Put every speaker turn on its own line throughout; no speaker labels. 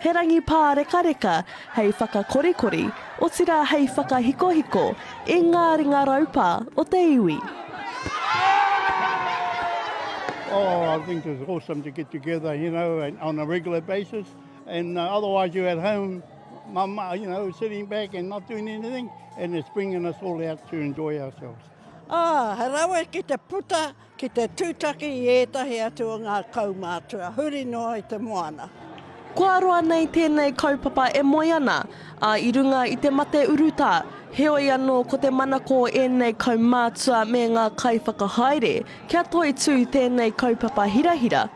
He rangi
pārekareka hei whakakorikori, otirā hei whakahikohiko i ngā ringa raupā o te iwi.
Oh, I think it's awesome to get together, you know, and on a regular basis, and uh, otherwise you're at home, mama, you know, sitting back and not doing anything, and it's bringing us all out to enjoy ourselves. Oh, he
rawe ki te puta Ki te tūtaki i ētahi atu o ngā kaumātua huri noa i te moana. Kua roa
nei tēnei kaupapa e moe ana, ā, i runga i te mate urutā. Heoi anō, ko te manako o ēnei kaumātua me ngā kaiwhakahaere, kia toitū tēnei kaupapa hirahira,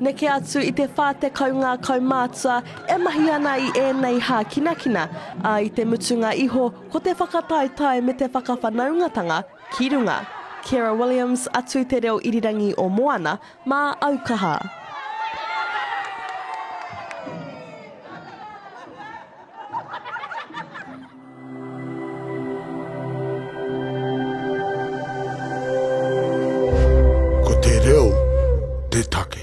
Neke atu
i te 40 ngā kaumātua e mahi ana i ēnei hākinakina, ā, i te mutunga iho ko te whakataetae me te whakawhanaungatanga ki runga. Kera Williams, atu i te reo irirangi o Moana, mā au kaha. Ko te reo te take.